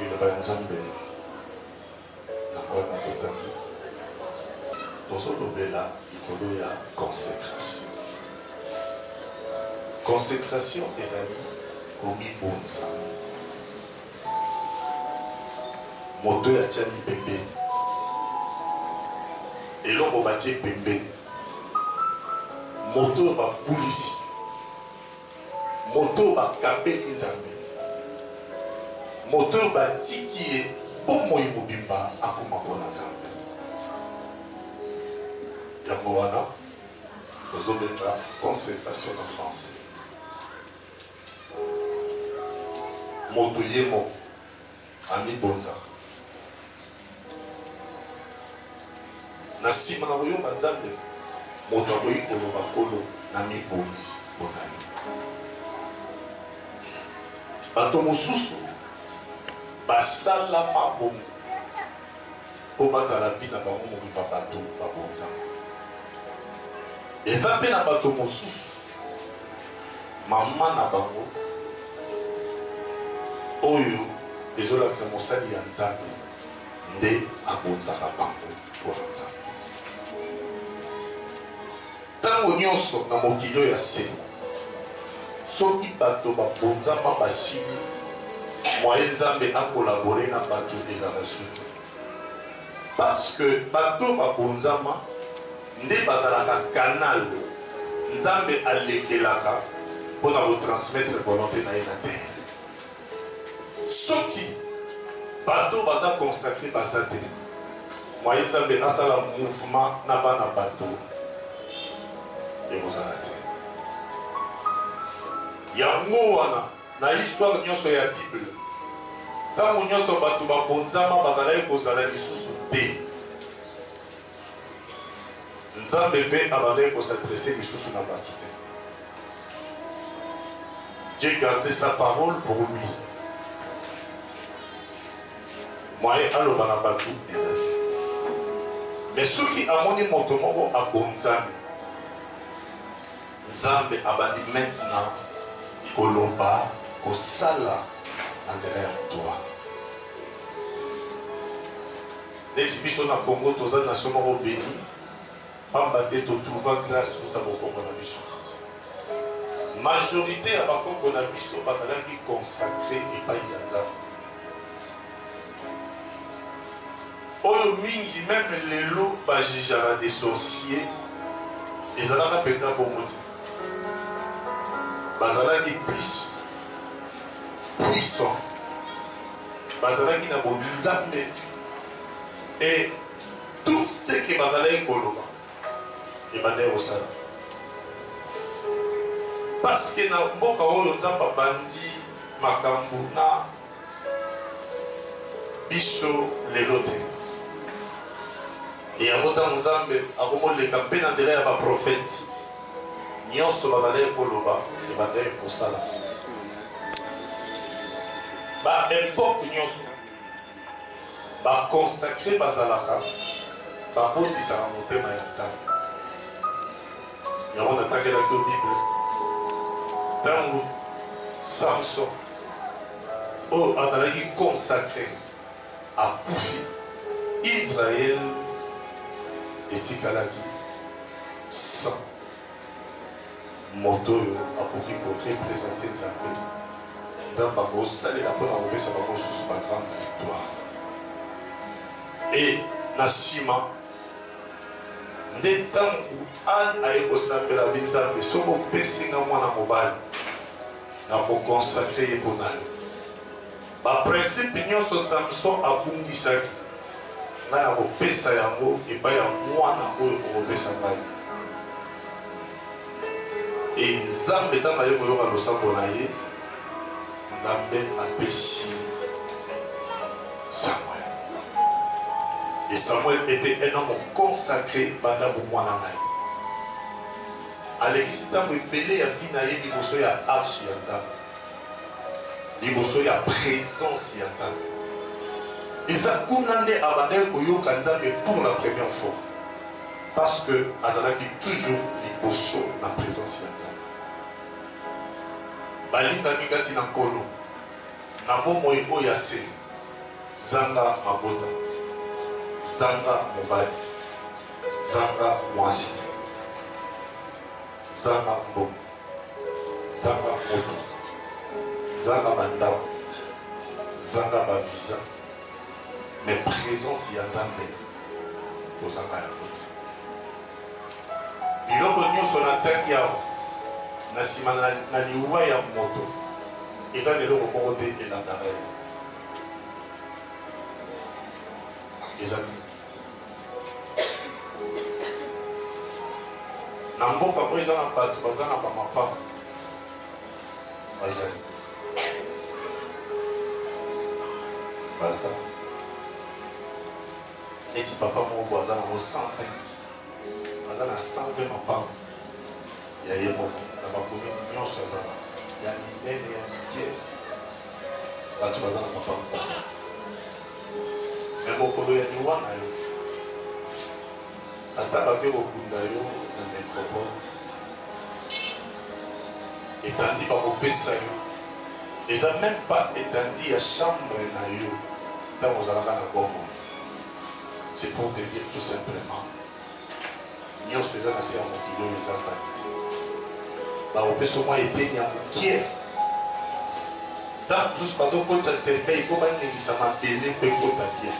Liloba ya Nzambe yango wana totangi, tozolobela likolo ya consecration. Consecration ezali komibonza, moto oyo atiami pembeni, eloko batie pembeni, moto oyo babulisi. Moto oyo bakabeli Nzambe, moto oyo batiki ye bomoi mobimba, akoma mpo na Nzambe. Yango wana tozobenga concertation na français. Moto ye moko. Amibonzaka. Na nsima na koyomba Nzambe, moto akoki koloba, Nkolo, namibonzi mpo na Yo. Bato mosusu basalama bongo mpo bazala vie na bango mobimba bato babonzaka. Eza mpe na bato mosusu. Maman na bango oyo ezo lakisa mosali ya nzambe nde abonzaka bango pona nzambe tango nionso na mokili oyo ya se soki bato babonzama basili moye nzambe akolabore na bato ezala suki Parce que bato oyo babonzama nde bazalaka canal Nzambe alekelaka mpo na ko transmettre volonte na ye na terre. Soki bato oyo baza consacre baza te, moyen Nzambe asala mouvement na bana bato ekozala te. Yango wana. Na histoire nyonso ya Bible, ntango nyonso bato babonzama bazalaki kozala lisusu te. Nzambe mpe abandaki ko s'adresser lisusu na bato te. Dieu gardait sa parole pour lui. Moyen aloba na bato ezali te. Mais soki amoni moto moko abonzami, Nzambe abandi maintenant koloba, kosala na nzela ya moto wana. Neti biso na Congo toza nation moko beni pamba te to trouva grace uta bokongo na biso. Majorite ya bakoko na biso bazalaki consacre epayi ya Nzambe. oyo mingi meme lelo ba jugeaka des sorciers ezalaka mpenza bongo te bazalaki plus puissant bazalaki na bonzambe et tout ce que bazalaki koloba ebandaki kosala parce que na mboka oyo nzambe abandi makambo na biso lelo te. Yango ntango Nzambe akomoleka mpe na nzela ya baprofete nyonso bazalaki koloba ebandaki kosala ba epoke nyonso baconsacre bazalaka bakotisaka motema ya nzambe yango natakelaki yo bible ntango samson oyo azalaki consacre akufi, Israël etikalaki sans moto oyo akoki ko representer Nzambe. Nzambe akosalela mpo na kopesa bango mosusu ba grande victoire. Et na nsima nde ntango Anne aye kosambela binzambe soki opesinga mwana mobali na ko consacrer ye mpo na yo. Ba principes nionso Samson abungisaki, ngai nakopesa yango epai ya mwana oyo okopesa ngai. Et Nzambe ntango aye koyoka losambo na ye, Nzambe apesi Samuel. Et Samuel etait un homme consacre banda bomwana na ye. Alekisi ntango ebele ya vie na ye liboso ya Arche ya Nzambe, liboso ya presence ya Nzambe. Eza kuna nde abandaki koyoka Nzambe pour la première fois, parce que azalaki toujours liboso na presence ya Nzambe. Balingami kati na Nkolo, na bomoi oyo ya se, zanga mabota, zanga mobali, zanga mwasi, zanga mbongo, zanga moto, zanga bandako, zanga ba visa, mais presence ya Nzambe kozanga yango. Biloko nyoso na tangi awa na sima na na liwa ya moto eza na eloko moko te elandaka ye. Eza te. Na mboka oyo eza na bato baza na ba mapapa bazali baza Neti papa moko boye aza nango 120 aza na 120 mapanzi ya ye moko na ba commune nionso aza nango ya minene ya mike batu baza na mapanzi baza mais mokolo ya liwa nayo Ata bato ekokunda yo na necropole etandi bakopesa yo eza meme pas etandi ya chambre na yo tango ozalaka na bomoi c'est pour te dire tout simplement nionso eza na se ya mokili oyo eza vanite bakopesa mwa eteni ya mokie ntango mosusu bato okotisa cerveil mpo baningisa mabele mpe ekota bien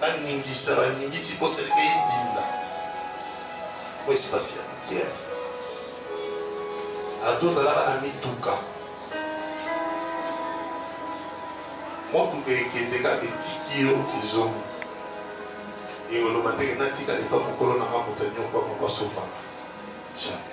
Ba ningisa ba ningisi po seleka edinda po espace ya pierre ado zalaka na mituka motuka ekende kaka etiki yo kizongo eoloba teke natika epa mokolo nanga moto anyokwama kwa sombanga jamais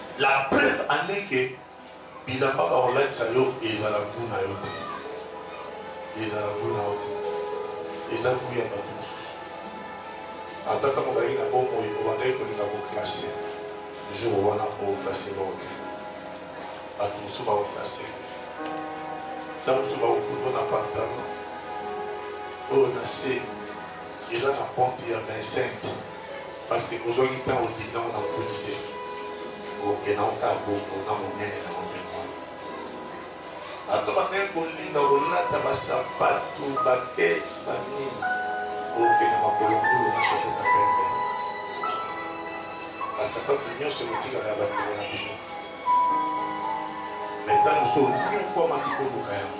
La preuve en est que bilamba bakolatisa yo ezala gout na yo te, ezala gout na yo te, eza gout ya bato mosusu. Ata ntango ozalaki na bomoi obandaki kolinga koklase, jour wana oklase bango te, bato mosusu bakoklase ntango mosusu bakokuto na pantalon oyo na se eza na pente ya 25 Parce que ozwaki temps ondimi nango na nkutu te. Oke nango kaka bongo na monene nango mpe bongo. Bato bakei kolinga kolata ba sapatu, ba keti, ba nini. Oke na makolo ngulu na chaussette ya pembe. Ba sapatu nionso ekotikala ya bandeko na bino. Mais tango mosusu onyokwamaki koluka yango.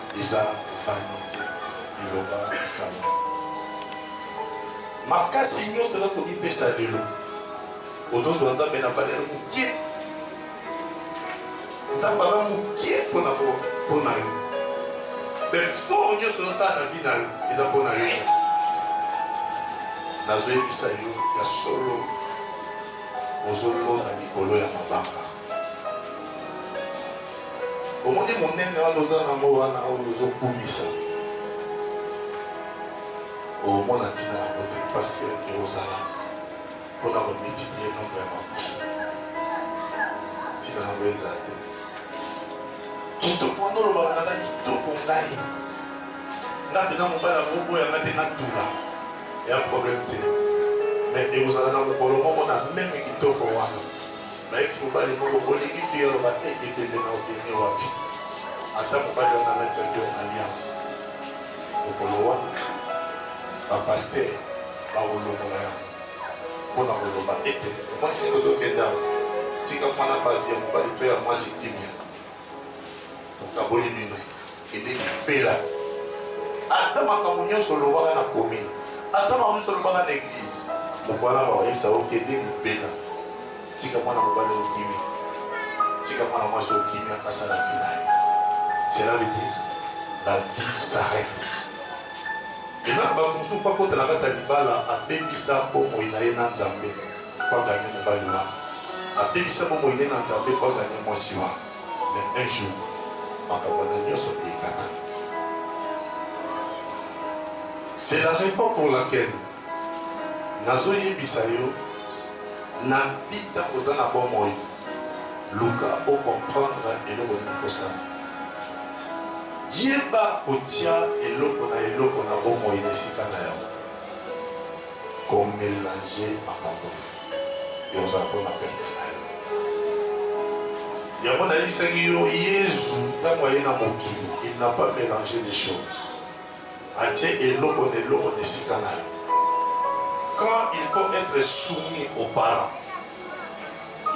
Eza vanite biloba sambwe makasi nyoto na komipesa lelo ozozwa nzambe na valere mokie nzambe aza mokie mpona mpona yo befort nyonso ozosala na vi na yo eza mpona yo nazoyebisa yo ya solo ozolona mikolo ya mabanga Omoni monene wana oza nango wana oyo ozo kumisa omona ntina nango te parce que ekozala mpo na komultiplier nombre ya makusu ntina nango ezala te kitoko wana olobaka naza kitoko ngai nga mpenza mobali akoboya nga te natula ya problème te mais ekozala na mokolo moko na meme kitoko wana Ba ex mobali moko bolingi fille aloba eh ebembe na obenge wapi ata mobali wana alatiaki yo alliance mokolo wana ba pasteur bakolongola yango mpona koloba ete mwasi ozo kende awa tika mwana batu ya mobali to ya mwasi kimia. nakaboli bino kende libela ata makambo nyonso olobaka na commune ata makambo nyonso olobaka na eglise mokwana bakoyebisa okende libela tika mwana mobali okimi tika mwana mwasi okimi akasala vi na ye cela veut dire la vie s'arrête eza na bato mosusu mpo akota na kati ya libala abebisa bomoi na ye na nzambe po a gagner mobali wana abebisa bomoi ne na nzambe po a gagner mwasi wana mais un jour makambo wana nionso ekatana c'est la raison pour laquelle nazo yebisa yo na vie ntango oza na bomoi luka o comprendre eloko nini kosala yeba kotia eloko na eloko na bomoi na esika na yango Ko melanger makambo te. Yo ozala bongo na perte na yo. Yango nayebisaki yo Yezu tango aye na mokili, il n'a pas melange les choses. Atie eloko na eloko na esika na yango. Quand il faut etre soumis aux parents,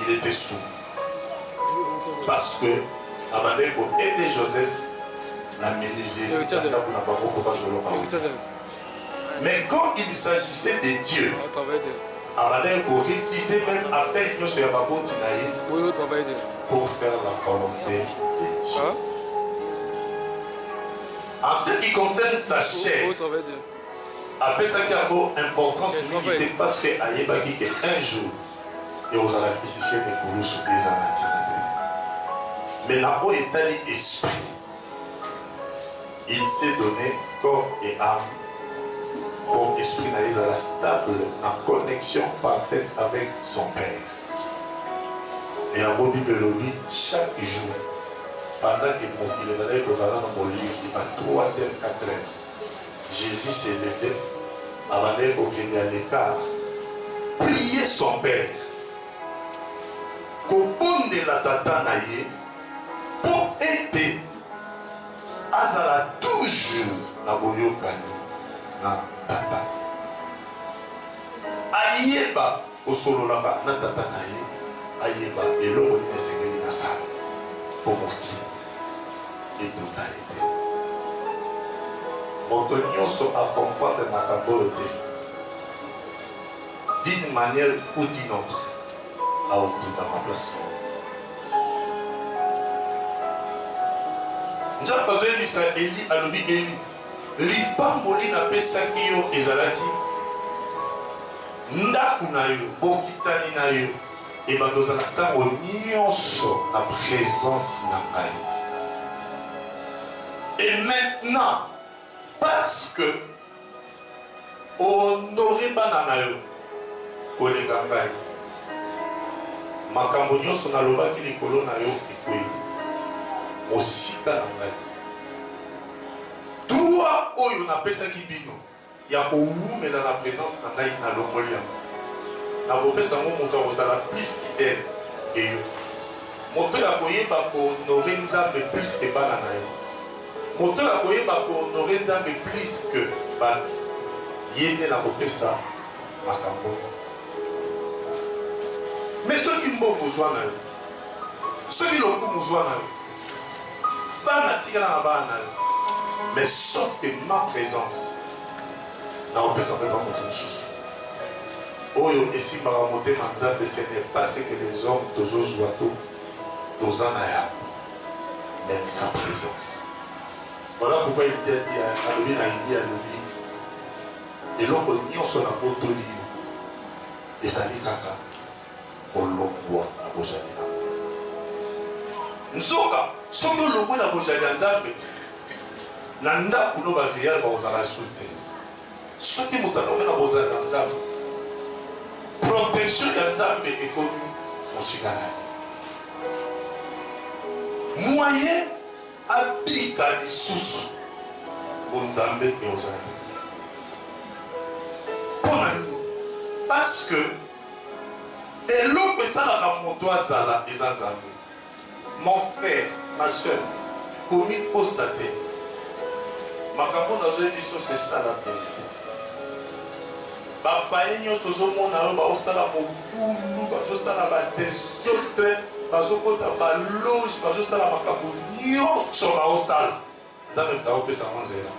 il etait soumis. Parce que abandaki ko aider Joseph na menuiserie na ndako na bango po bazoloka wuta. Mais quand il s'agissait de Dieu, abandaki ko refuser meme appel nionso ya baboti na ye pour faire la volonte de Dieu. En ce qui concerne sa chair, apesaki yango importance mingi te parce que ayebaki que un jour ekozala crucifié na ekulusu mpe eza na ntina te. Mais na oyo etali esprit Il s'est donne corps et ame po esprit na ye ezala stable na connexion parfaite avec son père. Na yango Bible elobi chaque jour pendant que mokili ezalaki kozala nanu molili ba trois heures, quatre heures, Jesus se levait abandaki kokende à l'ecart prier son père, kobondela tata na ye. Mpo ete azala toujours na boyokani na Tata. Ayeba kosololaka na Tata na ye, ayeba eloko nini esengeli asala mpo mokili etunda ye te. Moto nyonso a comprendre makambo oyo te, d'une manière ou d'une autre, Aotonda ma place na ye. Nzambe azoyebisa Eli, alobi, Eli, lipamboli napesaki yo ezalaki ndako na yo, bokitani na yo, ebanda ozala ntango nyonso na presence na ngai. Et maintenant, parce que O honorer bana na yo koleka ngai. Makambo nyonso nalobaki likolo na yo ekweyi mosika na ngai. Droit oyo napesaki bino ya kowumela na presence na ngai, nalongoli yango. Nakopesa yango moto akozala plus fidèle que yo. Moto oyo akoyeba ko honorer Nzambe plus que bana na ye. Moto oyo akoyeba ko honorer Nzambe plus que batu, ye nde nakopesa makambo oyo. Mais soki mbongo zwa na yo, soki lokumu zwa na yo, bana tikala na bana na yo, mais sauf que ma presence nakopesa yango epa moto mosusu. Oyo esimbaka motema Nzambe ce n'est pas ce que les hommes tozozwa to toza na yango. Lakisa presence. Voilà pourquoi il dit à alobi na Eli alobi eloko nyonso na botoli yo ezali kaka kolongwa na bozali na nzoka soki olongwe na bozali ya nzambe na ndako no baveilleur bakozala su te Soki moto alongi na bozali na Nzambe, protection ya Nzambe ekomi mosika na ye. Moye abika lisusu bonzambe ekozala te. Mpo na nini? Parce que eloko esalaka moto azala eza Nzambe. Mon frère, ma soeur, komi kosa te. Makambo oyo nazo yebisa yo c'est ça la verite. Ba paiens nionso ozo mona oyo bazo sala mobulu, bazo sala ba desordres, bazo kota ba loges, bazo sala makambo nionso bazo sala, Nzambe moto akopesa yango nzela.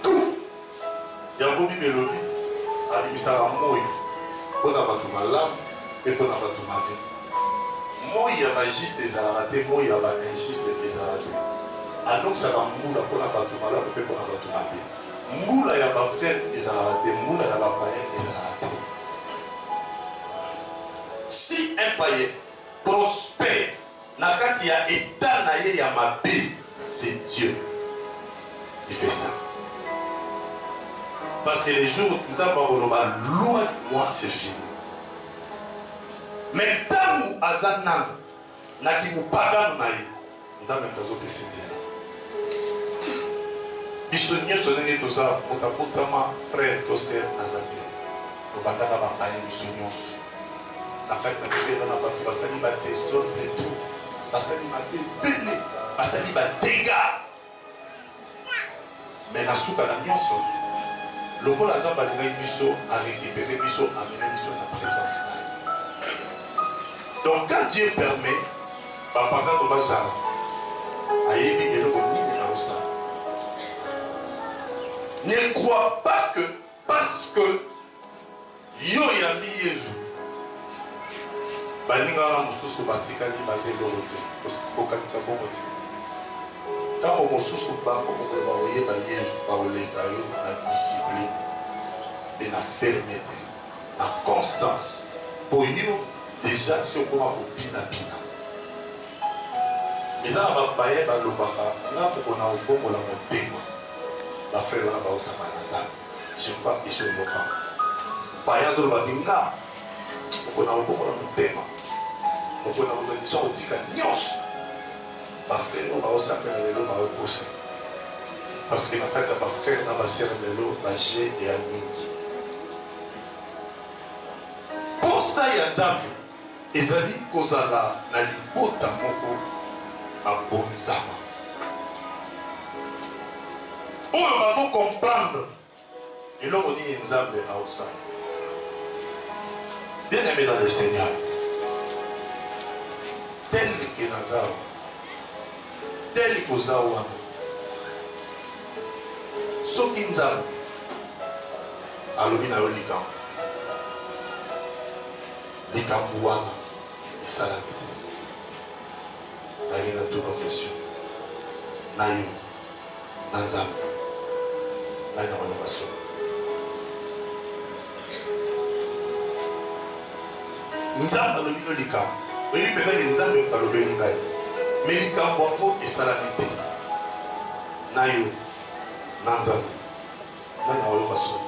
Tout! Yango Bible elobi, Abimisaka moi mpo na bato malamu mpe mpo na bato mabe. Moi ya ba juste ezalaka te, moi ya ba injuste mpe ezalaka te. Anokisaka mbula mpo na bato malamu mpe mpo na bato mabe. Mbula ya ba frere ezalaka te, mbula ya ba payen ezalaka te. Si un payen prospere, Na kati ya etat na ye ya mabe c'est Dieu qui fait ça. Parce que les jours Nzambe akoloba loin de moi c'est fini. Mais ntango aza nanu na kimopagano na ye Nzambe moto azopesa nzela. Biso nyonso ndenge toza moto abotama frère to sœur aza te. Tobandaka bapaya biso nyonso. Bakali balobela na batu basali ba desordre trop basali mabe ebele basali ba degats mais na suka na nionso lokola nzambe alingaki biso a récupérer biso amene biso na présence na ye donc quand dieu permet bapakano bazala ayebi eloko nini aosala ne crois pas que parce que Yo oyambi Yezu. Baninga wana mosusu batikali baza eloko te. Kokanisa bongo te. Ntango mosusu bango mokolo bakoyeba Yezu, bakoleka yo na discipline mpe na fermete, na constance, mpo yo deja esi okoma kobinabina. Eza na bapaya balobaka nga mokolo nakobongola motema, bafrere wana bakosangana na Nzambe. Je crois que biso yo kaka. Baya azo loba binga mokona koboko na motema mokona kokanisa kotika nyonso bafrere oyo baosakana lelo baokosa parce que na kati ya bafrere na basere lelo baje eya mingi posa ya nzambe Ezali kozala na libota moko babonzama, oyo bazo comprendre eloko nini Nzambe aosala. Bien aime dans le Seigneur, tel que naza awa, tel que oza wana, soki Nzambe alobi na yo likambo Likambu wana esalami te. Nalingi na tuna question na yo na Nzambe nani akolonga solo? Nzambe alobi no likambo oyebi mpenza ke Nzambe moto alobeli ngai me likambo yango esalami te na yo na Nzambe nani akoyoka soni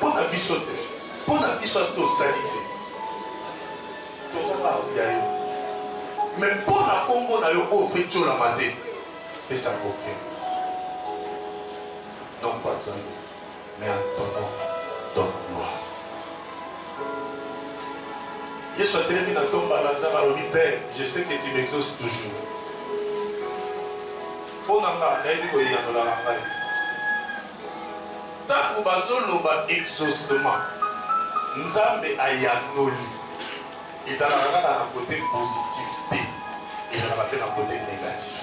Pona biso te pona biso asi tosali te toza kaka koya yo me mpo na nkombo na yo oyo ofe tiolama te pesa yango te non pas zango mais en ton nom ton gloire yesu atelemi na ntomba na nzambe alobi père je sais que tu m'exauce toujours mpo na nga nayebi koyanola na ngai Tango bazo loba exaucement nzambe ayanoli ezalaka kaka na cote positif te ezalaka pe na cote negatif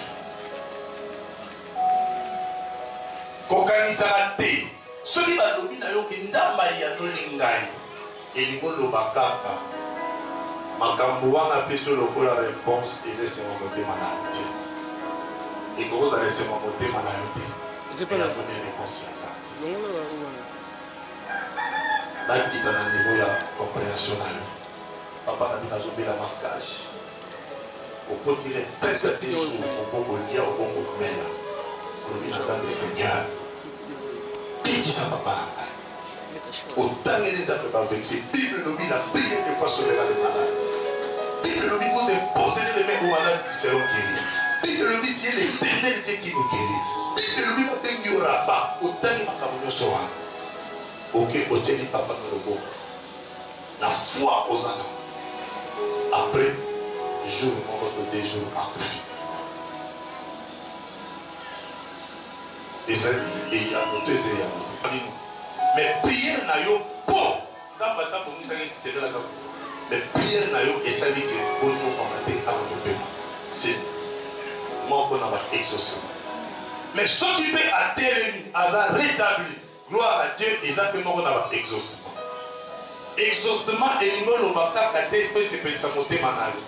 kokanisaka te soki balobi nayo ke nzambe ayanoli ngai Elingi oloba kaka makambu wana apesi yo lokola reponse eza esengo motema na yo te ekoki kozala esengo motema na yo te mais yango nde reponse ya nzambe nakita na niveau ya comprehension na yo papa na bino azobela makasi okotile tete te jour okokolia okokomela olobi na nzambe seigneur bikisa papa na ngai Otangeli eza pe ba verite bible elobi na prier de fois sauvera le malade bible elobi vous imposerez les mains aux malades ils seront gueris bible elobi tu es l'eternel Dieu qui nous guerit bible elobi ba bengi yo Rapha otangi makambo nyonso wana ok otieli papa na loboko na foi oza na après jour moko to deux jours akufi Ezali eyano to eza eyano te? Bino mais prière na yo po nzambe asi abongisa ye secret na kaka mais prière na yo esali ke oniokwama te awa topema se moko na ba exaucement mais soki pe atelemi aza retabli Gloire à Dieu eza pe moko na ba exaucement. Exaucement elingi oloba kaka te pe sepelisa motema nayo.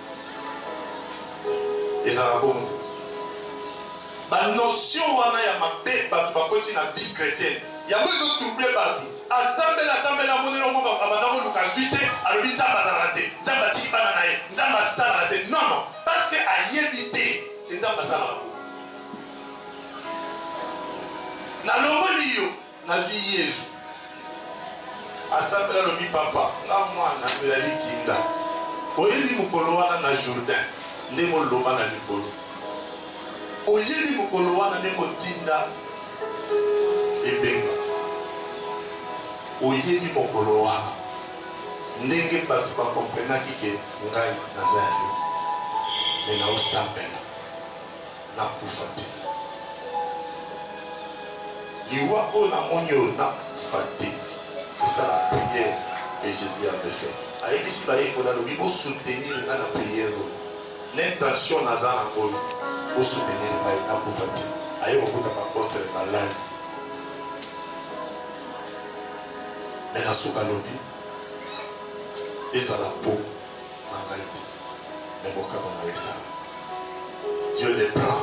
Ezala bongo te. Ba notion wana ya mabe batu bakoti na vie chretienne yango ezo trouble batu. Asambela asambela amoni eloko moko abanda koluka azui te alobi Nzambe azalaka te, Nzambe atiki bana na ye, Nzambe asalaka te. Non non parce que ayebi te que Nzambe asalaka bongo. nalongoli yo nazwi yezu asambela alobi papa nga mwana ezali kinda oyebi mokolo wana na jourdain nde moloba na likolo oyebi mokolo wana nde motinda ebenga oyebi mokolo wana ndenge bato bakomprenaki ke ngai naza ya yo me naosambela Nakufa te. Liwa oyo na moni oyo nakufa te. C'est ça la prière que Jesus avait fait. Ayebisi bayekoli alobi bo soutenir nga na prière oyo. L'intention naza nango oyo bo soutenir ngai nakufa te. Aye kokuta ba apotres balali. Mais na suka alobi ezala po na ngai te mais mokano na yo esala Dieu le prend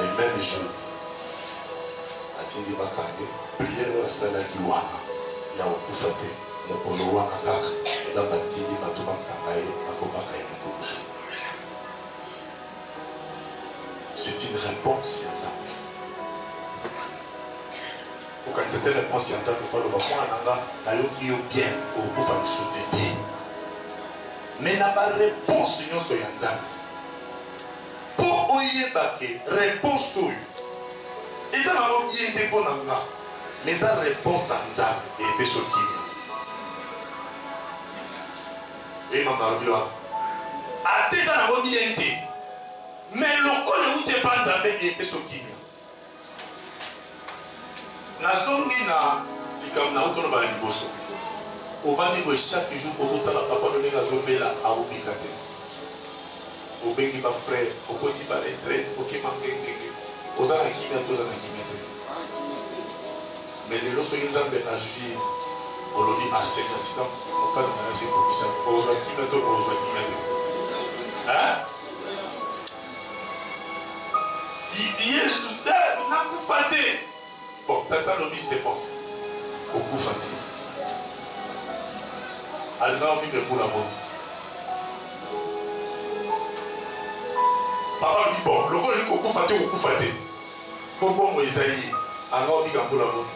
le même jour atindi makange priere oyo asalaki wana ya kokufa te mokolo wana kaka nzambe atindi bato bakanga ye bakobaka ye mokolusu c'est une réponse ya nzambe Okanisa te reponse ya nzambe po aloba mwana na nga na yoki yo bien okokufa lisusu te te mais na ba reponse nionso ya nzambe po oyeba ke reponse oyo eza na yo bien te po na nga mais eza reponse ya nzambe epesi okimi oyebi mambo nalobi wana ata eza na yo bien te mais lokola euti epa nzambe epesi okimi Nazongi na likambo na uto loba na liboso. Ovandi boye chaque jour ozo tala papa no ndenge azo bela azo bika te. Obengi ba frère, okoti ba retraite, oke mangengenge. Oza na kimia te, oza na kimia te. Mais lelo soki Nzambe azui ye, olobi assez na tika mokano na ye ase kokisa. Ozua kimia te, ozua kimia te. Hein? yesu te nakufa te bon tata lobi se bon okufa te alinga ovivre mbula boni papa lobi bon lokola olingi kokufa te okufa te Po bomoi eza ye. Anga obika mbula boni?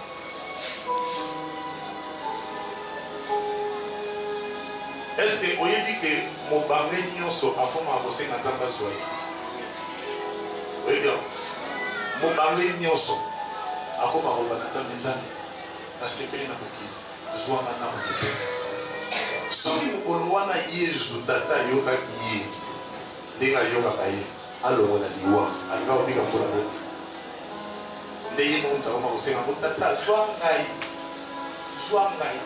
Est-ce que oyebi que mobange nionso akomaka kosenga Nzambe azua ye? Oyebi yango? Mobange nionso akomaka koloba na Nzambe, Nzambe, nasepeli na mokili, zua nga na mokili. Soki mokolo wana Yezu, Tata ayokaki ye ndenge ayokaka ye, Alongola liwa alinga kobika mpo na boni? Nde ye moko moto akoma kosenga yango, Tata, zwa ngai, zwa ngai,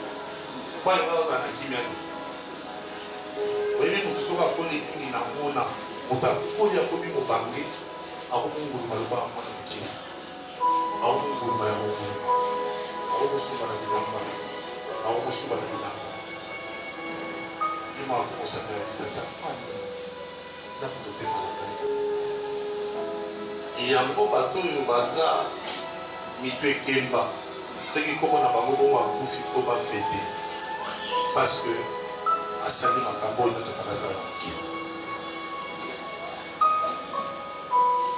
mpo alinga kozala na kimia te. Oyebi moto soki akoli mingi na mona, moto akoli akomi mobange, akomunguluma lokola mwana moke, akomunguluma ya mongulu, akokosuka na bilamba, akokosuka na bilamba, ye moko akokosaka ya tata mani yango bato oyo baza mitu ekemba soki koma na bango bongo akufi mpo bafete parce que asali makambo oyo nataka nasala na mokili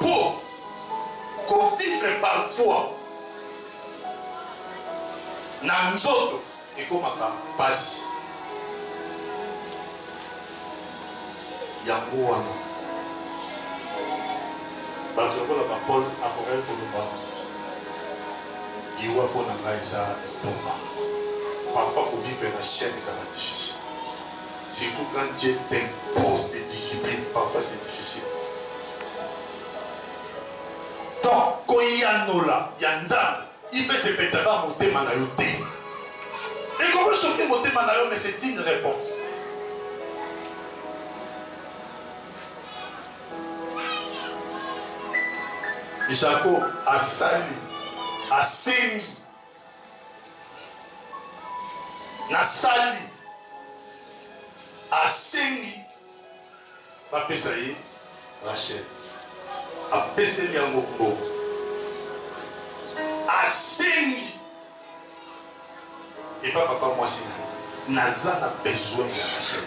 mpo kovivre parfois na nzoto Ekomaka pasi yango wana batu lokola ba Paul akokaki koloba liwa mpo na ngai eza litomba. Parfois ko vivre na chaine ezalaka difficile surtout quand Dieu t'impose des disciplines parfois c'est difficile. Donc koyanola ya Nzambe Yves epetsaka motema na yo te ekoki soki motema na yo mais c'est une reponse Jacob asali asengi nasali asengi Ba pesa ye Rachel apeseli yango mbongo asengi epa papa mwasi na ye naza na besoin ya Rachel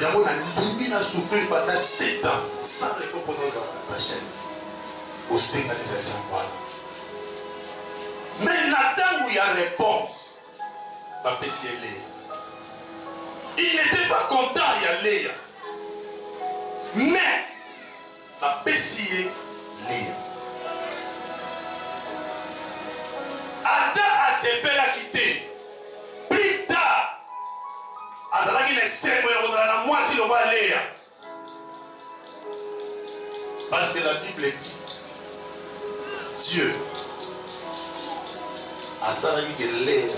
yango na ndimi na souffrir banda 7 ans sans récompense ya Rachel osenga nini ya jambo wana mais na ntango ya réponse bapesi ye Lea. Il n'etait pas content ya Lea, mais bapesi ye Lea. Ata asepelaki te, plus tard azalaki na esengo ya kozala na mwasi lokola Lea. Parce que la Bible dit, Dieu asalaki ke Lea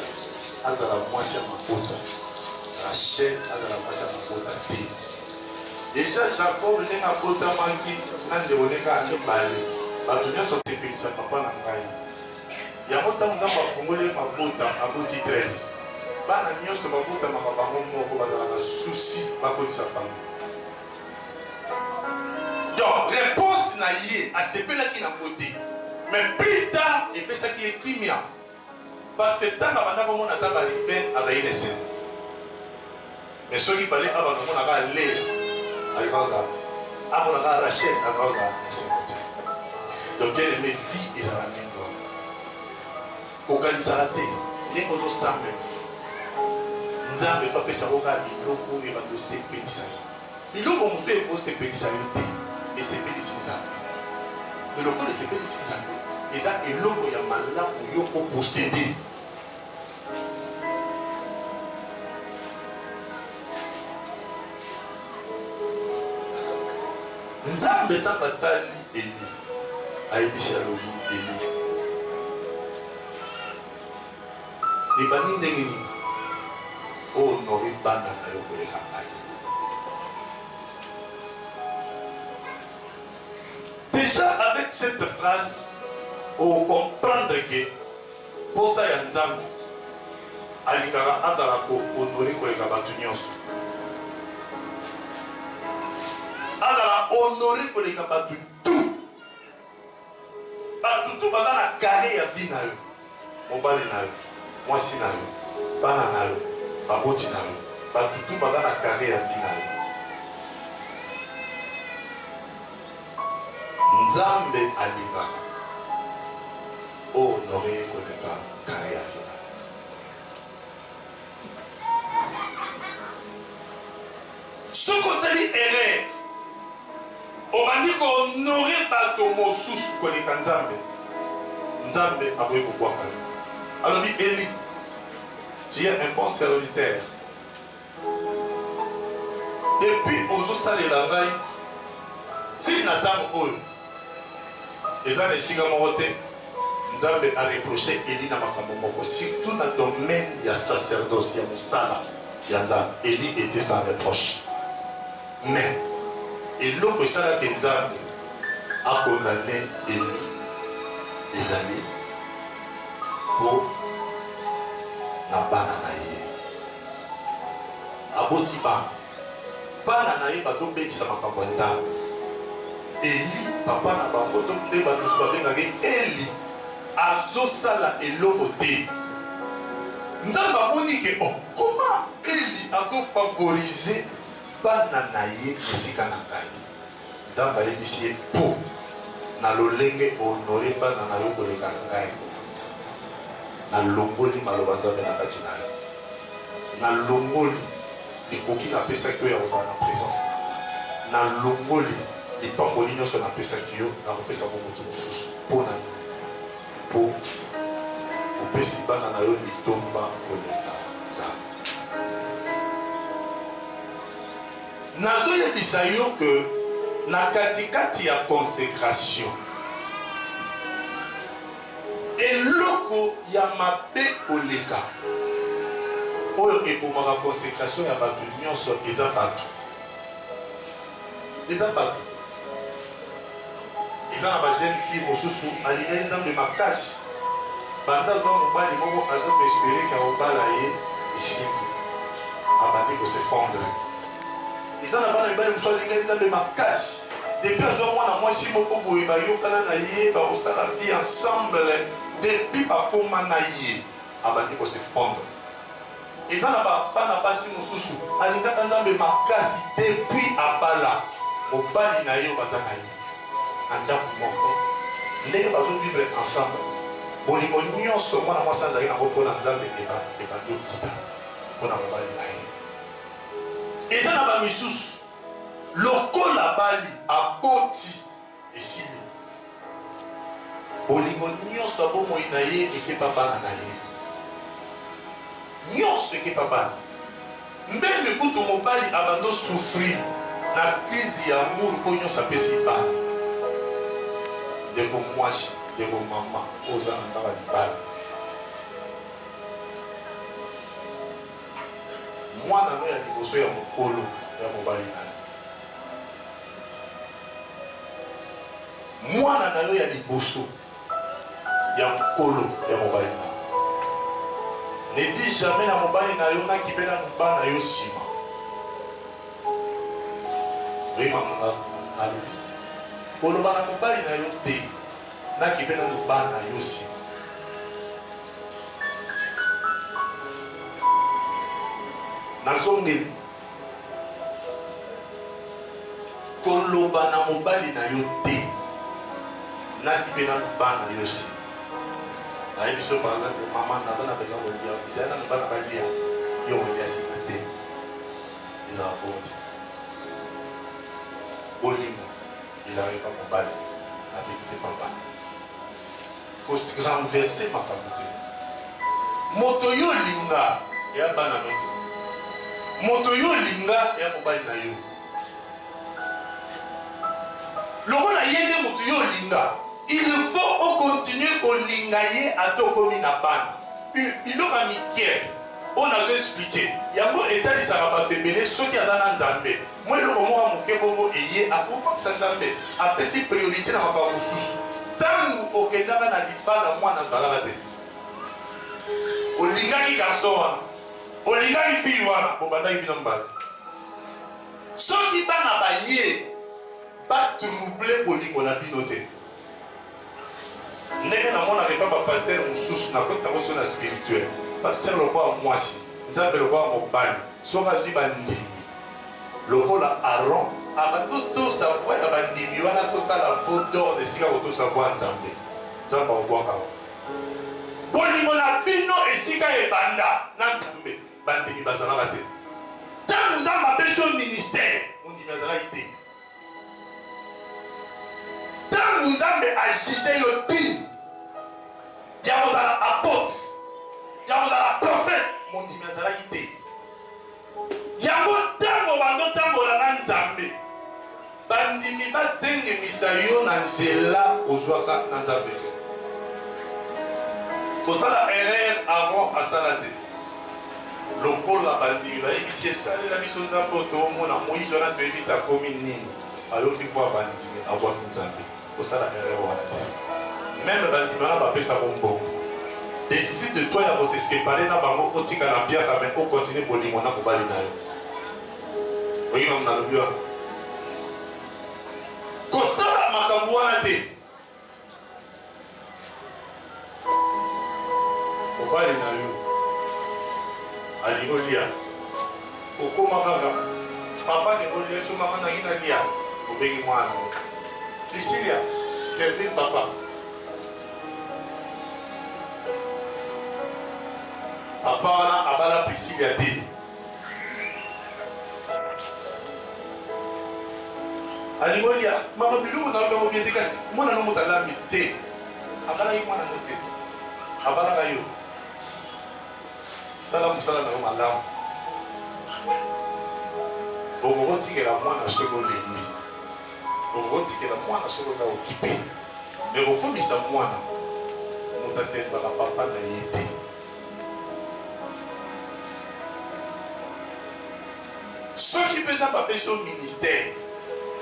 azala mwasi ya mabota, Rachel azala mwasi ya mabota te. Deja Jacob ndenge abotamaki na ndeko ndenge ya mibale, bato nyonso basepelisa papa na ngai. Yango tango Nzambe afongoli ye mabota aboti 13 bana nioso babotamaka bango moko bazalaka souci bakotisa famille donc reponse na ye asepelaki na ngo te mais plus tard epesaki ye kimia parce que tango abanda komona ata ba rivain azalaki na esengo. Mais soki fallait abanda komona ka Lea alinga kozala amona ka Rachel alinga kozala esengo te donc bien aimé vie ezala ndenge wana kokanisaka te ndenge ozosambela nzambe efa apesa yango kaka biloko oyo ebanda osepelisa yo biloko mosusu ekosepelisa yo te esepelisi nzambe eloko oyo esepelisi nzambe eza eloko ya malamu yo oposede nzambe ntango atali eli ayebisi alobi eli ebandi ndenge nini honore bana na yo koleka ngai déjà avec cette phrase okomprendre ke Posa ya Nzambe, Alingaka azala ko honore koleka batu nionso. Azala honore koleka batu tout. Batu tout baza na carre ya vie nayo. Mobali nayo, mwasi nayo, bana nayo, baboti nayo, batu tout baza na carre ya vie nayo. Nzambe alingaka. O honore ye koleka carre ya villa. Soki osali erreur obandi ko honore bato mosusu koleka Nzambe, Nzambe akoki kobwaka yo. Alobi Eli, tu es un bon serviteur. Depuis ozo salela ngai ti na tango oyo eza na esika moko te nzambe a reproche Elie na makambo moko surtout na domaine ya sacerdoce ya musala ya nzambe Elie etait sans reproche mais eloko esala ke nzambe a condamne Elie ezali po na bana na ye. Aboti bana. Bana na ye bazo bebisa makambo ya Nzambe. Eli, papa na bango to nde ba misusu ba bengaka ye Eli, azo sala eloko te. Nzambe amoni ke oh comment Eli azo favoriser bana na ye esika na ngai. Nzambe ayebisi ye po na lolenge o honore bana na yo koleka ngai, na longoli maloba ya Nzambe na kati na yo. Na longoli likoki na pesaki yo ya kozala na presence na nga. Na longoli lipamboli nionso na pesaki yo, na kopesa yango mutu mosusu. Po na nini? Po opesi bana na yo litomba koleka Nzambe. Nazo yebisa yo que na kati kati ya consecration eloko ya mabe koleka oyo ebomaka consecration ya batu nionso eza batu eza batu Eza na ba jeune fille mosusu alingaki nzambe makasi banda azua mobali moko aza ko espere ke akobala ye esimbi abandi ko se fondre eza na bana mibali mosusu alingaki nzambe makasi depuis azua mwana mwasi moko boye bayokana na ye bakosala vie ensemble depuis bakoma na ye abandi ko se fondre Eza na ba bana basi mususu alingaka nzambe makasi depuis abala mobali na ye baza na ye na ndaku moko ndenge bazo vivre ensemble bolingo nionso mwana mwasi azali na ngo pona nzambe ebandi okuta pona mobali na ye eza na ba misusu lokola abali aboti Esili. Bolingo nionso ya bomoi na ye ekepa bana na ye. Nionso ekepa bana. Mbele kutu mobali abanda o souffrir na crise ya amour po nionso apesi bana. Ndeko muasi, ndeko mama oyo oza na nga ba libala. Mwana no ya liboso ya mokolo ya mobali na yo. Mwana na yo ya liboso ya mokolo ya mobali na yo. Ne dis jamais na mobali na yo naki bela no bana yo sima. Oye mama na alobi. Koloba na mobali na yo te naki bela no bana yo sima. Nazongeli Koloba na mobali na yo te naki mpe na bana yo se nayebi biso baza mama naza na besoin kolia ezali nano bana balia yo kolia nsima te ezala bonte bolingo ezalaki kaka mobali abiki te papa Ko renverser makambo te. Moto yo olinga eya bana no te. Moto yo olinga eya mobali na yo. Lokola ye nde moto yo olinga, il faut o continuer kolinga ye ata okomi na bana. Biloko ya mike oyo nazo expliquer yango etalisaka bato ebele soki aza na Nzambe. Mwa eloko moko ya moke bongo eye akoki kobakisa, Nzambe apesi priorite na makambo mosusu. Ntango okendaka na libala, mwana azalaka te. Olingaki garçon wana, olingaki fille wana, bobandaki bino mibale. Soki bana baye, ba troubler bolingo na bino te. Ndenge na monaka epa ba pasteur mususu na kota ngo sona spirituel pasteur lokola muasi nzambe lokola mobali soki azui ba ndimi lokola aron abando tosa voix ya ba ndimi wana tosala vo dor na esika kotosa voix ya nzambe nzambe akobwaka ngo bolingo na bino esika ebanda na nzambe bandimi bazalaka te ntango nzambe apesi yo ministère mondimi azalaki te Tangu Nzambe a juger yo digne ya kozala apotre, ya kozala prophète, mondimi azalaki te. Yango tangu obandi otambola na Nzambe, bandimi batengemisa yo na nzela ozwaka na Nzambe te. Kosala erreur Aaron asala te. Lokola bandimi bayebisi ye salela biso Nzambe oyo toomona Moïse wana toyebi te akomi nini ayoki poa bandimi abwaki Nzambe kosala erreur wana te meme bandimi wana bapesa ko mbongo decide de toi ya ko se separer na bango otika na mpiaka mais o continue bolingo na mobali na yo oyebi mamu nalobi wana kosala makambo wana te mobali na yo alingi olia okoma kaka papa alingi olia so mama nangi nalia obengi mwana lisilia servir papa papa wana abala prisilia te alingi olia mama biloko na yango bie te kasi mwana na moto alambi te akalaki mwana no te abalaka yo sala mosala na yo malamu okokotikela mwana soki olembi okokotikela mwana soki oza okipe me kokomisa mwana moto asembaka papa na ye te Soki mpenza bapesi yo ministère,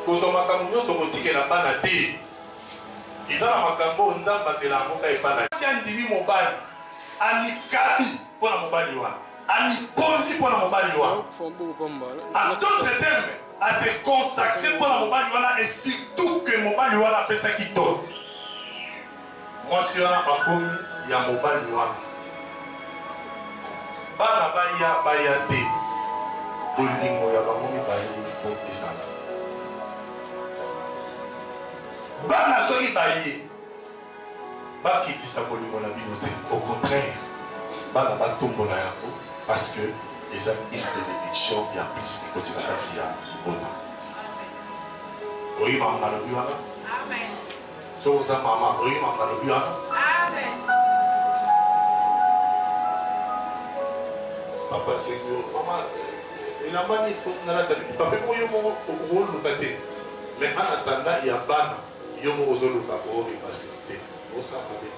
kozwa makambo nyonso okotikela bana te. Eza na makambo oyo Nzambe amela yango kaka epai na ye. Mwasi andimi mobali, amikabi mpo na mobali wana, amikonzi mpo na mobali wana, en d'autres termes, a se consacrer mpo na mobali wana et surtout que mobali wana apesaki dot. Mwasi wana bakomi ya mobali wana bana baya baya te bolingo ya bango mibale il faut ezala bana soki baye bakitisa bolingo na bino te au contraire bana batombola yango parce que eza une bénédiction ya plus ekoti na kati ya libota oyi makambo nalobi wana Soki oza mama oyebi makambo nalobi wana. Papa asengi yo mama elamba nini po nalata nini papa moko yo moko okoluka te mais en attendant ya bana yo moko ozoluka orepase te osala mabe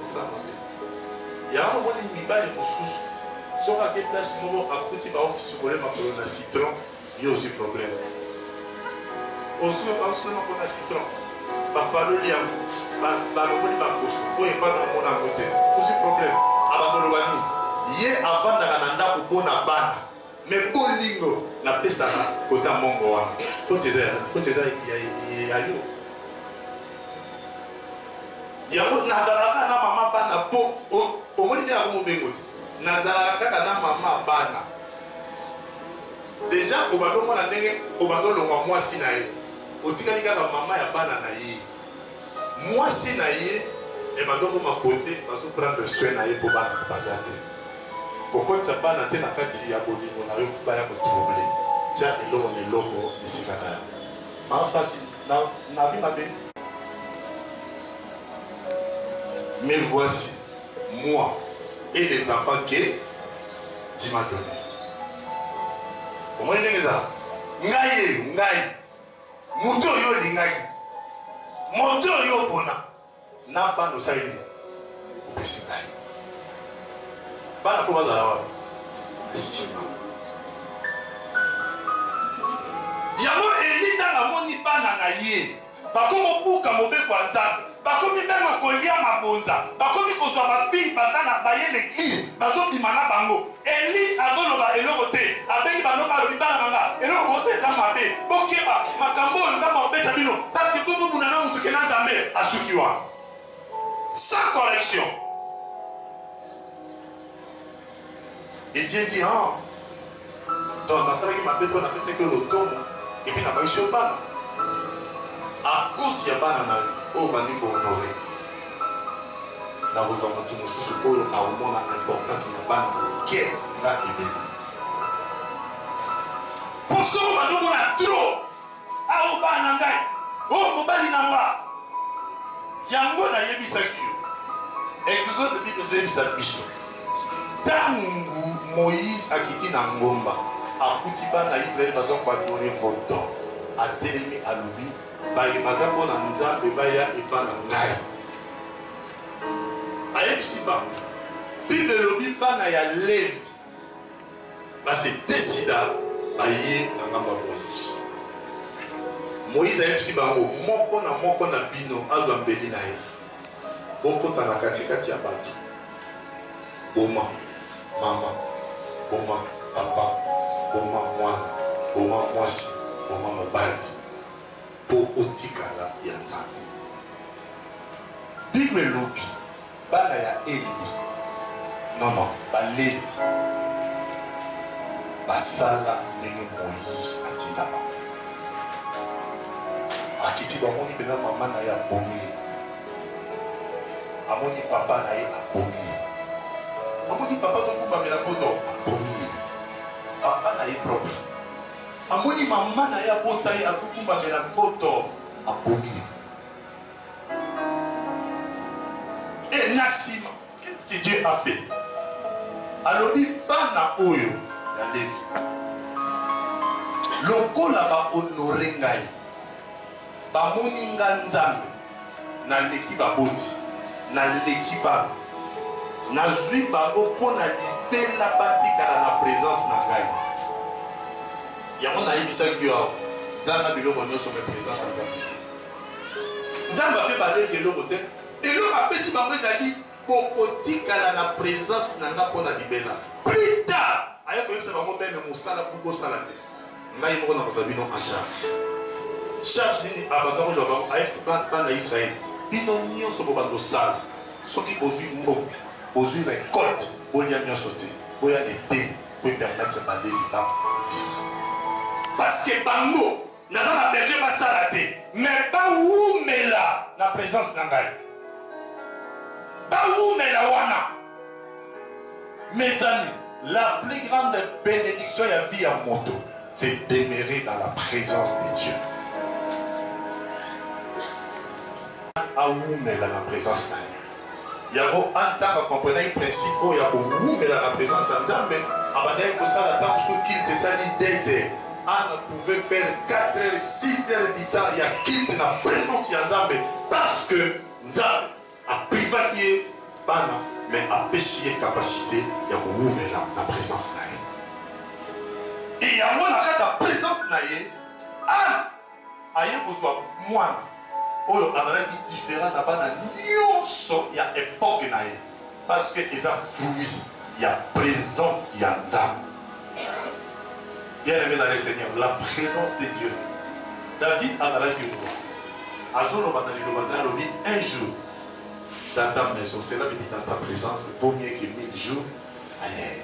osala mabe yango omoni mibali mosusu soki ake place moko akuti baokisukole makolo na citron Yo ozwi problème. Ozwi osolo mpo na citron. Bapaloli yango. Balongoli bakoso. Oyo epai na omona yango te. Ozwi problème. Abanda oloba nini? Ye avandaka na ndako mpo na bana. Me bolingo napesaka kota mongo wana. Foti eza ya nani? Foti eza ya yo. Yango nazalaka na mama bana mpo omoni nde yango mobengo te. Nazalaka kaka na mama bana. Dejà obanda omona ndenge obanda olongwa muasi na ye otikali kaka maman ya bana na ye muasi na ye ebanda okoma beaute bazo prendre soin na ye po bana baza te kokotisa bana te na kati ya bolingo na yo po baya ko trouble tia eloko na eloko esika na yango maman fasthi na na vie mabe me voici. Moi et les enfants que tu m'as donne. Omoni ndenge ezala? Ngai ye, ngai. Moto oyo olingaki. Moto oyo opona. Na bana osali nini? Opesi ngai. Bana mpo bazala wapi? Nsima. Yango Eli ntango amoni bana na ye. Bakomo buka mobeko ya nzambe bakomi meme kolia mabonza bakomi kozua ba fille baza na baye na eglise bazo bima na bango Elly azo loba eloko te abengi ba noko alobi bana nanga eloko bozo eza mabe bokeba makambo oyo nzambe akobeta bino parceque bo bunda na mutu ke na nzambe asuki wana sans correction. Didier dit han donc nasalaki mabe po napesaki yo lotomo epuis nabakisi yo bana a cause ya bana na yo oyo obandi ko honore nakozwa motu mosusu oyo akomona importance ya bana moke na ebele po soko bandi omona trop Awa bana na ngai, oyo mobali na nga, yango nayebisaki yo. Exode Bible ezoyebisa biso ntango Moïse akiti na ngomba, akuti bana ya Israele baza koadore voto, atelemi alobi baye baza mpo na Nzambe baya epa na ngai. Ayebisi bango Bible elobi bana ya Levi Base te sida baye na ngambo ya Moïse. Moïse ayebisi bango moko na moko na bino azwa mbeli na ye, bokota na katikati ya bato, boma mama, boma papa, boma mwana, boma mwasi, boma mobali, mpo otikala ya Nzambe. Bible elobi Bana ya Eli, non, non, Balevi, basala ndenge Moïse atinda bango. Bakiti, bamoni mpenza mama na ye abomi ye, bamoni papa na ye abomi ye, bamoni papa tokumbamela foto abomi ye, papa na ye propre, bamoni mama na ye abota ye akukumbamela foto abomi ye. Et na sima, qu'est ce que Dieu a fait? Alobi bana oyo ya Levi, lokola ba honore ngai, bamoni nga Nzambe, naleki baboti, naleki bana, nazwi bango mpo na libela batikala na presence na ngai. Yango nayebisaki yo awa, zanga biloko nyonso, mais presence na Nzambe. Nzambe ape balevi eloko te. Eloko abeti bango ezali bokotikala na presence na nga pona libela. Plus tard aye koyebisa bango meme mosala pour bosala te ngai moko nakozwa bino en charge. Charge nini abanda kozwa bango aye bana ya Israël bino nionso bobanda kosala soki bozwi mbongo bozwi recolte bolia nionso te boya na eteni po epermettre balevi ba vivre parce que bango Naza na besoin ba sala te mais ba wumela na presence na ngai. Ba wumela wana. Mes amis, la plus grande bénédiction ya vie ya moto, c'est demeurer dans la présence de Dieu. Awumela na presence na ye. Yango Anne, ntango akomprenaki principe oyo ya kowumela na presence ya Nzambe, abandaki kosala ata mosusu culte esali deux heures. Anne a pouvait faire quatre heures, six heures du temps ya culte na presence ya Nzambe parce que Nzambe a privaki ye bana mais apesi ye capacite ya kowumela na presence na ye. Et yango na kati ya presence na ye, Anne, Aye kozua mwana oyo azalaki different na bana nionso ya epoque na ye parce que eza fruit ya presence ya Nzambe. Bien aime dans le Seigneur, la presence de Dieu. David azalaki roi, azoloba na liloba na alobi un jour dans ta maison, cela veut dire dans ta presence, vaut mieux que mille jours ailleurs.